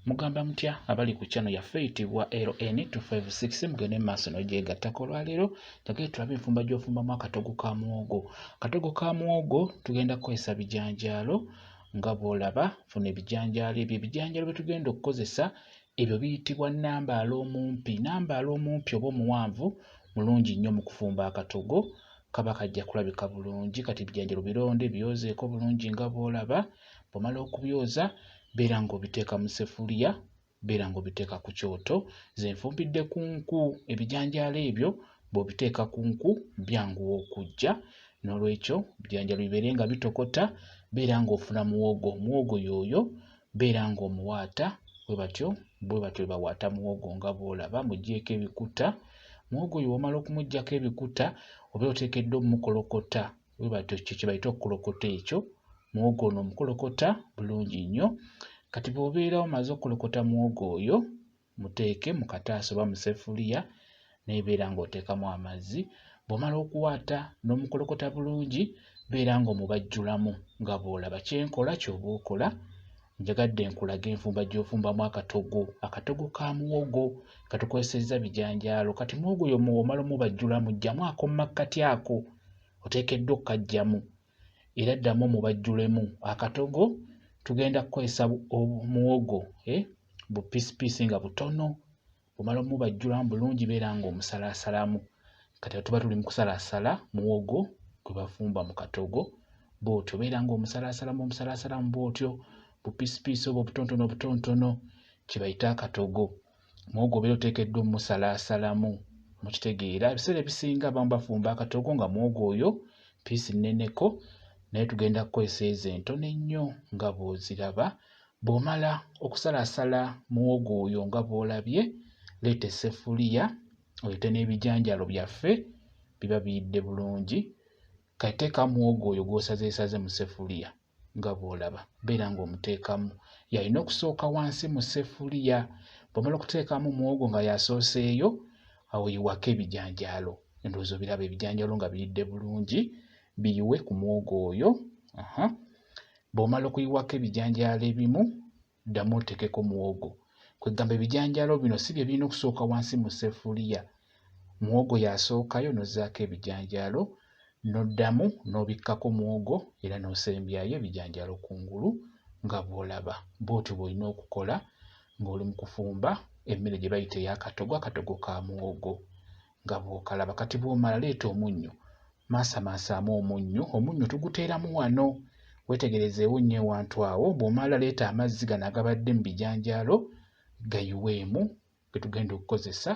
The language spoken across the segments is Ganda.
Mugamba mutya abali ku channel yaffe eyitibwa LN256 mugende mu maaso n'ogyegattako olwaleero njagala tulabe enfumba gy'ofumbamu akatogo ka muwogo. Akatogo ka muwogo tugenda kukozesa bijanjaalo nga bw'olaba funa ebijanjaalo ebyo ebijanjaalo bye tugenda okukozesa ebyo biyitibwa nnambaala omumpi. Nnambaala omumpi oba omuwanvu mulungi nnyo mu kufumba akatogo kaba kajja kulabika bulungi kati ebijanjaalo bironde byozeeko bulungi nga bw'olaba bw'omala okubyoza beera ng'obiteeka mu sefuliya beera ng'obiteeka ku kyoto ze nfumbidde ku nku ebijanjaalo ebyo bw'obiteeka ku nku byanguwa okujja n'olwekyo ebijanjaalo bibeere nga bitokota beera ng'ofuna muwogo muwogo yooyo beera ng'omuwaata bwe batyo bwe batyo bwe bawaata muwogo nga bw'olaba mugyeko ebikuta muwogo oyo w'omala okumuggyako ebikuta obeera oteekeddwa omukolokota webatyo ekyo kyebayita okukolokota ekyo muwogo ono omukolokota bulungi nnyo kati bwobeera omaze okukolokota muwogo oyo muteeke mu kataasa oba musefuliya nebeera ng'oteekamu amazzi bwomala okuwaata n'omukolokota bulungi beera ng'omubajjulamu nga bw'olaba kyenkola kyoba okola njagadde nkulage enfumba gy'ofumbamu akatogo akatogo ka muwogo katukozesezza bijanjaalo kati muwogo yo muwomala omubajjula mujjamu ako mumakkati ako oteekeddwa okukajjamu era ddamu omubajjulemu akatogo tugenda kukozesa omuwogo eh, bupisipiisi nga butono omala omubajjulamu bulungi beera nga omusalaasalamu kati tuba tuli mukusalaasala muwogo gwe bafumba mu katogo bwotyo beera nga omusalaasalamu omusalaasalamu bwotyo bupiisipiisi oba obutontono obutontono kyebayita akatogo muwogo obeera oteekeddwa omusalaasalamu mukitegeera ebiseera ebisinga abamu bafumba akatogo nga muwogo oyo piisi nneneko naye tugenda kukozesa ezo entono ennyo nga bw'oziraba Bw'omala okusalasala muwogo oyo nga bw'olabye, leeta esseffuliya oleete n'ebijanjaalo byaffe biba biyidde bulungi. Kati teeka muwogo oyo gw'osazeesaze mu sseffuliya nga bw'olaba, beera ng'omuteekamu. Yalina okusooka wansi mu sseffuliya. Bw'omala okuteekamu muwogo nga y'asooseeyo, awo yiwako ebijanjaalo. Endowooza obiraba ebijanjaalo nga biyidde bulungi, biyiwe ku muwogo oyo. Bw'omala okuyiwako ebijanjaalo ebimu, ddamu oteekeko muwogo. Kwegamba ebijanjaalo bino si bye birina okusooka wansi mu ssefuliya. Muwogo y'asookayo n'ozzaako ebijanjaalo n'oddamu n'obikkako muwogo era n'osembyayo ebijanjaalo ku ngulu nga bw'olaba. Bw'otyo bw'olina okukola ng'oli mu kufumba emmere gye bayita ey'akatogo, akatogo ka muwogo. nga bw'okalaba kati bw'omala leeta omunnyo maasamaasaamu omunnyo omunnyo tuguteeramu wano weetegerezeewo nnyo ewantu awo bw'omala leeta amazzi gano agabadde mu bijanjaalo gayiweemu ge tugenda okukozesa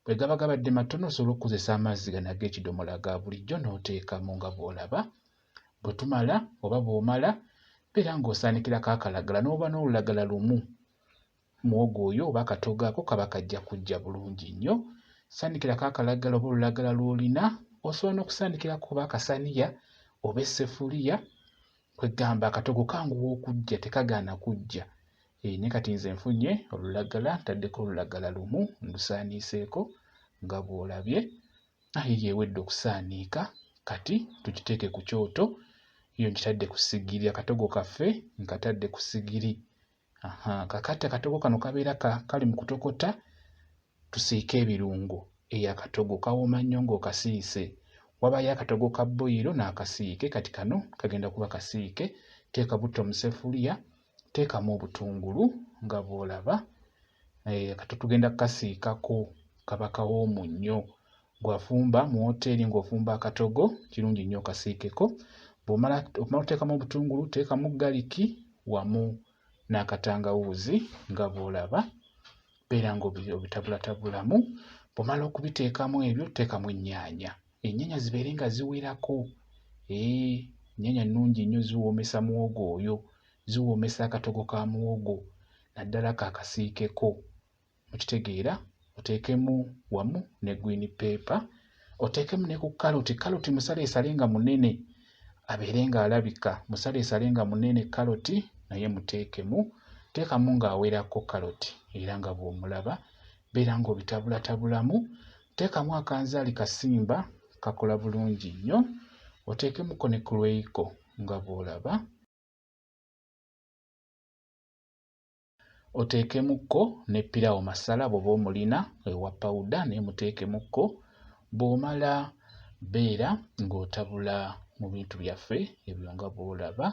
bwe gaba gabadde matono osobola okukozesa amazzi gano ag'ekidomola ga bulijjo n'oteekamu nga bw'olaba bwe tumala oba bw'omala beera ng'osaanikirako akalagala n'oba n'olulagala lumu Muwogo oyo oba akatoogo ako kaba kajja kujja bulungi nnyo. Saanikirako akalagala oba olulagala lw'olina. Osobola n'okusaanikirako oba akasaniya oba essefuliya. Kwe ggamba akatogo kanguwa okujja tekagaana kujja. Ee, ne kati nze nfunye olulagala ntaddeko olulagala lumu ndusaaniiseeko nga bw'olabye. Ayi yeewedde okusaaniika kati tukiteeke ku kyoto. Yo nkitadde ku sigiri akatogo kaffe nkatadde ku sigiri. Aha, kakati akatogo kano kabeera ka, kali mu kutokota tusiike ebirungo eyo akatogo kawooma nnyo ng'okasiise wabayo akatogo ka boyiro n'akasiike kati kano kagenda kuba kasiike teeka butto mu sefuliya teekamu obutungulu nga bw'olaba eh, kati tugenda kukasiikako kaba kawoomu nnyo gwafumba mu woteeri ng'ofumba akatogo kirungi nnyo okasiikeko bw'omala okuteekamu obutungulu teekamu galiki wamu n'akatangawuuzi nga bw'olaba beera ng'obitabulatabulamu bw'omala okubiteekamu ebyo teekamu ennyaanya ennyaanya zibeere nga ziwerako ee ennyaanya nnungi nnyo ziwoomesa muwogo oyo ziwoomesa akatogo ka muwogo naddala kaakasiikeko mukitegeera oteekemu wamu ne green paper oteekemu ne ku kaloti kaloti musaleesale nga munene abeere ng'alabika musaleesale nga munene kaloti naye muteekemu teekamu ng'awerako kaloti era nga bw'omulaba beera ng'obitabulatabulamu teekamu akanzaali kasimba kakola bulungi nnyo oteekemuko ne kulweiko nga bw'olaba Oteekemukko ne ppirawo masala bw'oba omulina ewa pawuda naye muteekemukko bw'omala beera ng'otabula mu bintu byaffe ebyo nga bw'olaba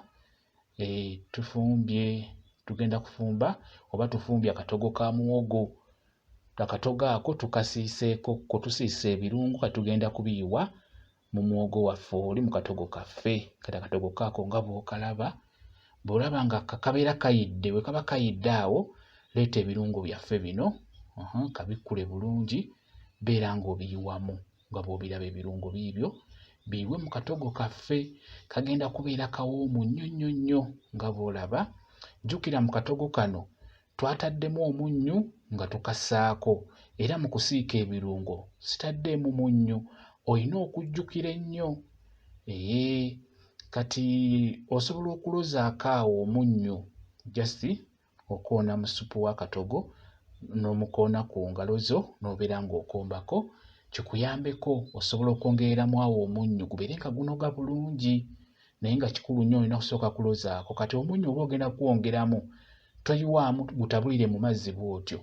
e, tufumbye tugenda kufumba oba tufumbye akatogo ka muwogo akatogo ako tukasiiseeko ko tusiisa ebirungo katugenda kubiyiwa mu muwogo waffe oli mu katogo kaffe kati akatogo kaako nga bw'okalaba bw'olaba nga kakabeera kayidde bwe kaba kayidde awo leeta ebirungo byaffe bino kabikkule bulungi beera ng'obiyiwamu nga bw'obiraba ebirungo biibyo biibwe mu katogo kaffe kagenda kubeera kawoomu nnyo nnyo nnyo nga bw'olaba jjukira mu katogo kano Twataddemu omunnyu nga tukasaako era mu kusiika ebirungo sitaddeemu munnyu olina okujjukira ennyo ee kati osobola okulozaako awo omunnyu just okoona mu ssupu w'akatogo n'omukoona ku ngalo zo n'obeera ng'okombako kikuyambeko osobola okwongereramu awo omunnyu gubeere nga gunoga bulungi naye nga kikulu nnyo olina kusooka kulozaako kati omunnyo oba ogenda kuwongeramu toyiwaamu gutabulire mu mazzi bw'otyo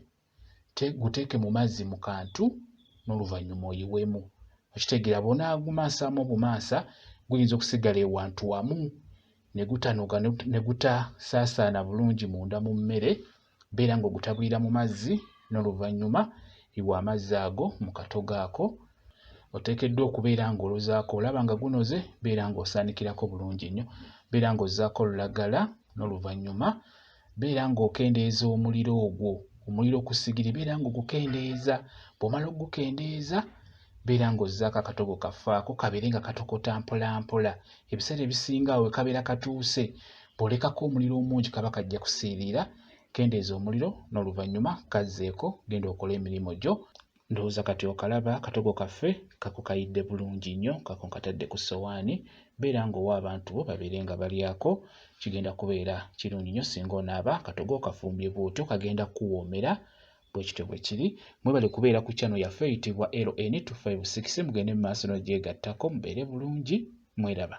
guteeke mu mazzi mu kantu n'oluvannyuma oyiwemu okitegeera bw'onaagumansaamu obumansa guyinza okusigala ewantu wamu ne gutanuka ne gutasaasaana bulungi munda mu mmere beera ng'ogutabulira mu mazzi n'oluvannyuma yiwa amazzi ago mu katogo ako oteekeddwa okubeera ng'olozaako olaba nga gunoze beera ng'osaanikirako bulungi nnyo beera ng'ozzaako olulagala n'oluvannyuma beera ng'okendeeza omuliro ogwo omuliro ku sigiri beera ng'ogukendeeza bw'omala okugukendeeza beera ng'ozzaako akatogo kaffe ako kabeere nga katokota mpolampola ebiseera ebisinga awo wekabeera katuuse bwolekako omuliro omungi kaba kajja kusiiriira kendeeza omuliro n'oluvannyuma kazzeeko genda okole emirimu gyo ndowooza kati okalaba akatogo kaffe kakukayidde bulungi nnyo kako nkatadde ku ssowaani beera ng'owa abantu bo babeere nga balyako kigenda kubeera kirungi nnyo singa onaaba katogo okafumbye bwotyo kagenda kuwoomera bwekityo bwe kiri mwebale kubeera ku kyano yaffe eyitibwa ln 256 mugende mu maaso n'ogyegattako mubeere bulungi mweraba